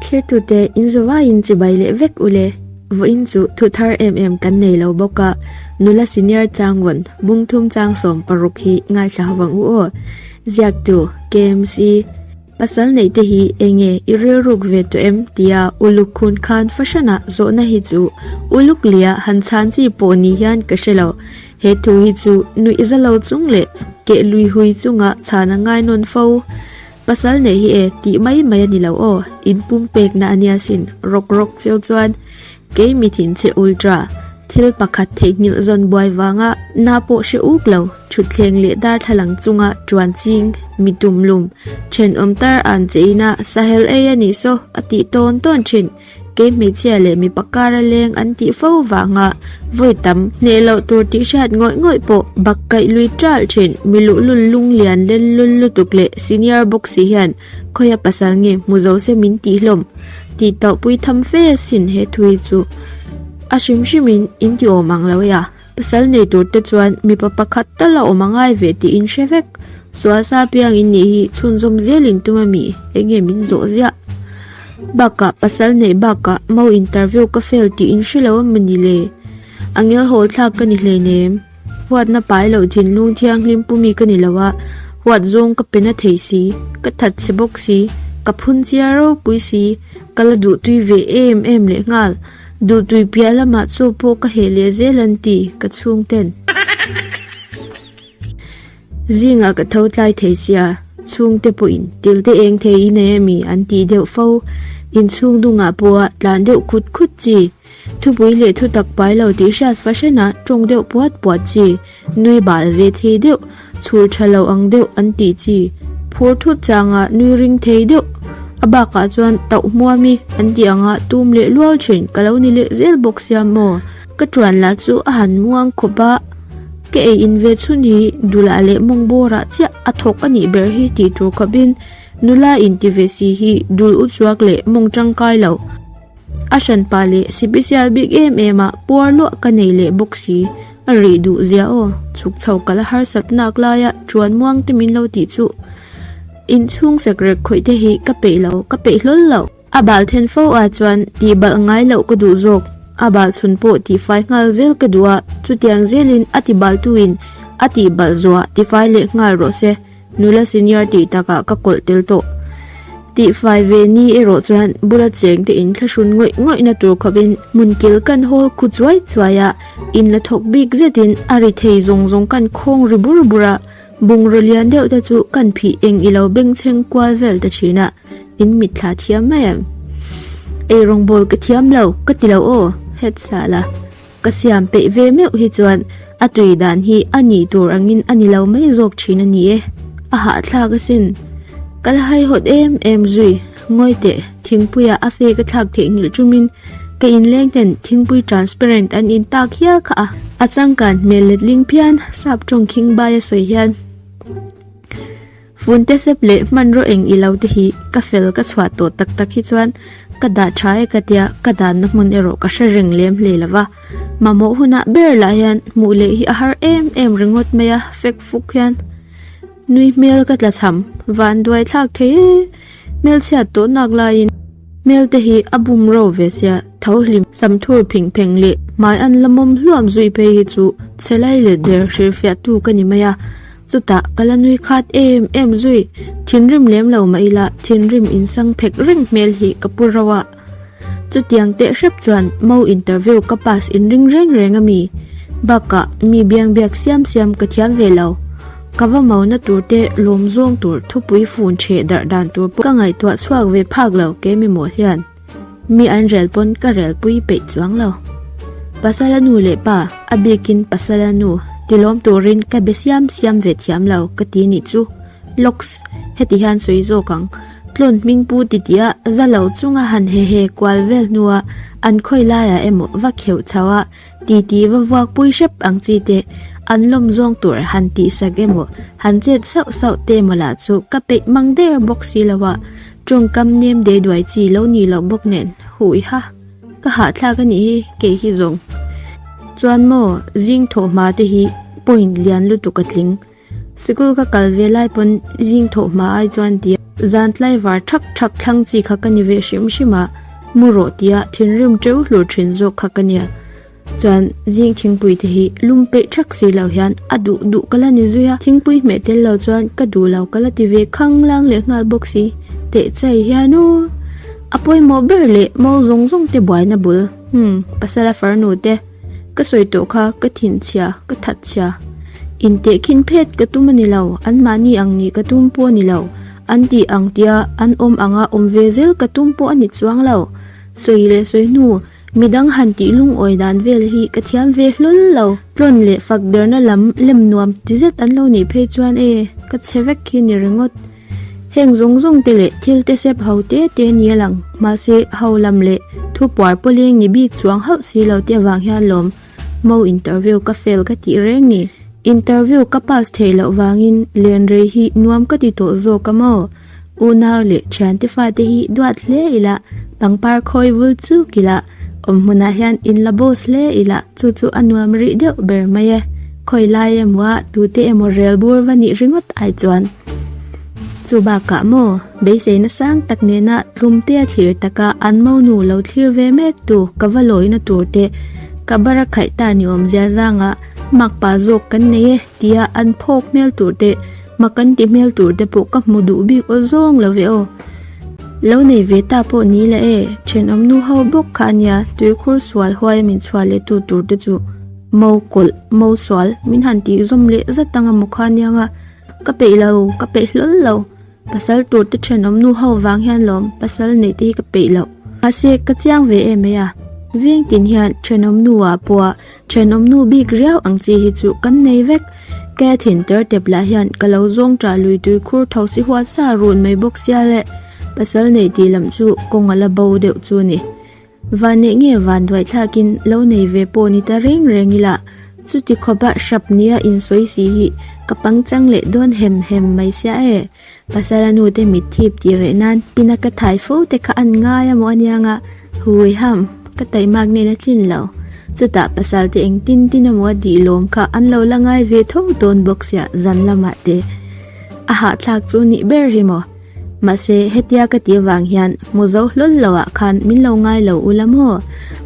Thirtute inzawai in chibai leh vek u le, vawiin chu thu thar em em kan nei lo bawk a, nula senior changvawn bungthum chang sawm paruk hi ngaihhla vang u aw. Ziaktu, KMC, pasal neih te hi eng nge i rilruk ve tawh em tia uluk khun khan fahranah zawhna hi chu uluk lia han chhan chi pawh ni hian ka hre lo, he thu hi chu nuih zalo chung leh keh lui hui chunga chhan a ngai nawn fo. Pasal neih hi e, tih mai mai a ni lo aw, in pum pekna a nia sin, rawk rawk chiu chuan, Kei mithin che ultra, thil pakhat theih nghilh zawn buai vanga, na pawh hre uk lo, thutthleng leh darthlalang chunga tuan ching, mi tumlum, thenawm tar an che ina, sahel ei a nih saw, a tih tawn tawn thin. Kei hmeichhia leh mipa kara leng an tih fo vanga vawi tam hneh loh tur tih hriat ngawih ngawih pawh bak kaih lui ṭalh ṭhin mi luhlul lung lian lelul lutuk leh senior boxi hian khawi a pasal nge hmu zo se min tih hlawm tih tawhpui tham fe asin he thui chu a hrim hrimin in ti awm ang lo e a. Pasal nei tur te chuan mipa pakhat tal a awm a ngai ve tih in hre vek. Sualsa piang in nih hi chhunzawm zel in tum a mi, eng nge min zawh ziah. Bakah pasal nei bakah mau interview ka fail tih in hre lo a mani le. A ngel hawl thlak ka ni hlein em. Huat na pai loh thinlung thianghlim pu mi ka ni lo a, huat zawng ka pe na thei si, ka that chhe bawk si, ka phun cia ropui si, ka la duh tui ve em em lehnghal. Duhtui piah lamah chaw pawh ka heh leh zel an ti ka chhungten. Zingah ka tho tlai thei sia, chhungte pawhin tilte eng thei i nei a mi an tih deuh fo. Inchhung dungah pawha tlan deuh khut khut chi. Thupui leh thutak pai lo tih hriat fahranah tawng deuh puat puat chi. Nui bal ve thei deuh, chhul tha lo ang deuh an tih chi. Phur thut changah nui ring thei deuh. A bakah chuan tauh hmuam i an tih anga tum leh luau thin ka lo ni leh zel bawk sia maw. Ka tuan lah chu a han muang khawp a, ka ei in ve chhun hi dulah leh mawngborah chiah a thawk a nih ber hi tih tur khawp in nula inti ve si hi dul uchuak leh mawng tangkai lo. A hran pa leh sibisial bik em em ah puar luah ka nei leh bawk si, a rih duh zia aw, chhuk chho kal a harsat nak lai a tuan muang te min lo tih chu in chhung sek rek khawih te hi ka peih lo, ka peih hlawl lo. A bal then fo ah chuan tih balh ngai loh ka duh zawk, a bal chhun pawh tih fai nghal zel ka duh a, chutiang zel in a ti bal tu in a tih balh zuah ti fai leh nghal rawh se. Nula senior tih takah ka kawlh tel tawh. Tihfai ve ni erawh chuan bula cheng te in thlahrun ngawih ngawih na tur khawpin hmun kil kan hawl khu chuai chuai a, in la thawk bik zetin a ri thei zawng zawng kan khawng ri bur bur a, bungraw lian deuh te chu kan phih eng i lo bengchheng kual vel ta thin a, in mit thla thiam mai em. Ei rawngbawl ka thiam lo ka ti lo aw, Head Sala. Ka siam peih ve meuh hi chuan a tui dan hi a nih tur angin a ni lo mai zawk thin a ni e. A hahthlak asin. Ka la haihawt em em zui. Ngawi teh, thingpuia a fake a thlak theihnghilh tumin ka inleng ten thingpui transparent an intak hial kha a. A changkan hmel letling phian sap tawng khing bai a sawi hian. Funte sep leh hmanraw eng i lo te hi ka fel ka chhuah tawh tak tak hi chuan ka dah tha e ka tia ka danna hmun erawh ka hre reng lem hle lo va. Mamawh huna ber lah hian hmuh leh hi a har em em ringawt mai a fek fuk hian nui hmel ka tla chham van duai thlak thei e hmelchhiat tawh nak laiin hmel te hi a bum ro ve sia tho hlim sam thur phing pheng leh hmai an la mawm hluam zui phei hi chu chhe lai let der hrilhfiah tu ka ni mai a. Chutah ka la nui khat em em zui, thinrim lem lo mah ila thinrim in sang phek reng hmel hi ka pu rauh a. Chutiang teh hrep chuan mo interview ka pass in ring reng reng a mi bakah mi biang biak siam siam ka thiam ve lo. Ka va mo na tur te lawm zawng tur thupui fun chhe darh dan tur pawh ka ngaihtuah chhuak ve phak lo kemaw hian. Mi an rel pawn ka rel pui peih chuang lo. Pasala nu leh pa, a bikin pasala nu ti lawm turin ka be siam siam ve thiam lo ka ti nih chu. Locks, heti hian sawi zawk ang. Tlawn hming pu titia zalo chunga han he he kual vel hnua an khawi laiah emaw va kheuh chauha, Titi va vuak pui hrep ang chi te, an lawm zawng tur han tih sak emaw, han chet sauh sauh te emaw lah chu ka peih mang der bawk si lo a, tawngkam nem dei duai chi lo ni loh bawk nen, huh i ha, ka hahthlak a nih hi kei hi zawng chuan maw zing thawh hma te hi point lian lutuk a tling. Sikul ka kal ve lai pawn zing thawh hma ai chuan ti a, zan tlai var thak thak thlang chi kha ka ni ve hrim hrim a, mu rawh tia thinrim teu hlur thin zawk kha ka nia chuan zing thingpui te hi lum peih thak si lo hian a duh duh ka la ni zui a, thingpui hmeh tel lo chuan ka duh lo ka la ti ve khang lang leh nghal bawk si teh chai hian u a pawimawh ber leh mau zawng zawng te buaina bul umm pasal a farnu te. Ka sawi tawh kha ka thinh chhia, ka that chhia. Inteh khin phet ka tum a ni lo, anmahni ang nih ka tum pawh a ni lo, an tih ang tia an awm anga awm ve zel ka tum pawh a ni chuang lo. Sawi leh sawi hnu, midang han tih lungawi dan vel hi ka thiam ve hlawl lo. Tlawn leh fakderhna lam lem nuam ti zet an lo nih phei chuan e, ka chhe vek khi ni ringawt. Heng zawng zawng te leh thil te sep ho te te ni alang. Mahse, ho lam leh thu puar paw leng ni bik chuang hauh si lo te avang hian lawm mo interview ka fail ka tih reng ni. Interview ka pass theih loh vangin len rei hi nuam ka ti tawh zawk a maw? Unau leh thiante fate hi duat hle ila pangpar khawi vul chu kila. Awm hmunah hian in la boss hle ila chu chu a nuam rih deuh ber mai e. Khawilai emawa tute emaw rel bur va nih ringawt ai chuan chu bakah maw beisei na sang tak nena tlum te a thlir taka an mo nu lo thlir ve mek tu ka va lawi na tur te ka bar a khaih ta ni awm zia zanga makpa zawk kan nei e tia an phawk hmel tur te Hma kan ti hmel tur te pawh ka hmu duh bik aw zawng lo ve aw. Lo nei ve ta pawh ni la e, thenawm nu ho bawk kha a nia, tuikhur sual huaia min chhuah leh tu tur te chu mo kawlh, mo sual min han tih zawm leh zat anga maw kha aniang a, ka peih lo, ka peih hlawl lo, pasal tur te thenawm nu ho vang hian lawm pasal neih te hi ka peih loh. Mahse, ka chiang ve e mai a, veng tin hian thenawm nu a pawh a, Then awmnu bik riau ang chi hi chu kan nei vek. Cathy-in tertep lah hian ka lo zawng ṭah lui tui khur tho si huat sa run mai bawk sia le, pasal neih tih lam chu kawng a la bo deuh chu ni. Vanneih nge van duai thlakin lo nei ve pawh ni ta reng reng ila, chuti khawpa hrap nia insawi si hi ka pangchang leh dawn hem hem mai sia e. Pasala nu te mit thip tih reh nan pin a ka thai fo te kha an ngai a maw a nia nga hui ham ka taih mak nen a tlin lo chutah pasal te eng tin tin a maw a dih lawm kha an lo la ngai ve tho dawn bawk sia zan lamah te a hah thlak chu nih ber hi maw mahse hetia ka ti avang hian mu zo hlawl lo ah khan min lo ngai lo ula maw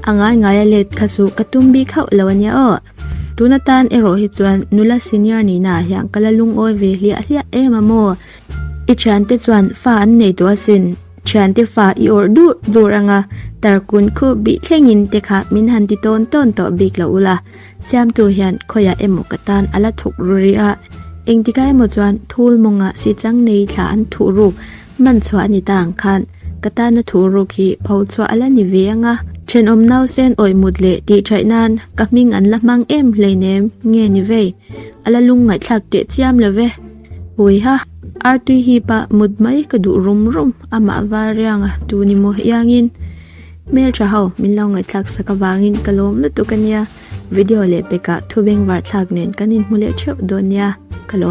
a ngai ngai a let kha chu ka tum bik hauh lo a nia aw. Tun atan erawh hi chuan nula senior nihna ah hian ka la lungawi ve hliah hliah em a maw. I thiante chuan fa an nei tawh asin, thiante fa i awrh dur dur ang a, tar kun khu bih thleng in te kha min han ti tawn tawn tawh bik loh u la, siamtu hian khawiah emaw ka tan a la thuk ru ri a, engtikah emaw chuan thul mawngah sichang nei thla an thuh ruk. Man chhuah a ni ta ang khan ka tana thu ruk hi pho chhuah ala ni ve anga thenawm nausen awih mut leh tih chaih nan ka hming an la hmang em hleinem nge ni vei ala lung ngaihthlak teh chiam lo ve huiha ar tui hi pa mut mai ka duh rum rum amah variang a tu ni maw iangin hmel tha ho min lo ngaihthlak sak avangin ka lawm lutuk ania video leh pekah thubeng varthlak nen kan inhmu leh theuh dawn nia ka lawm.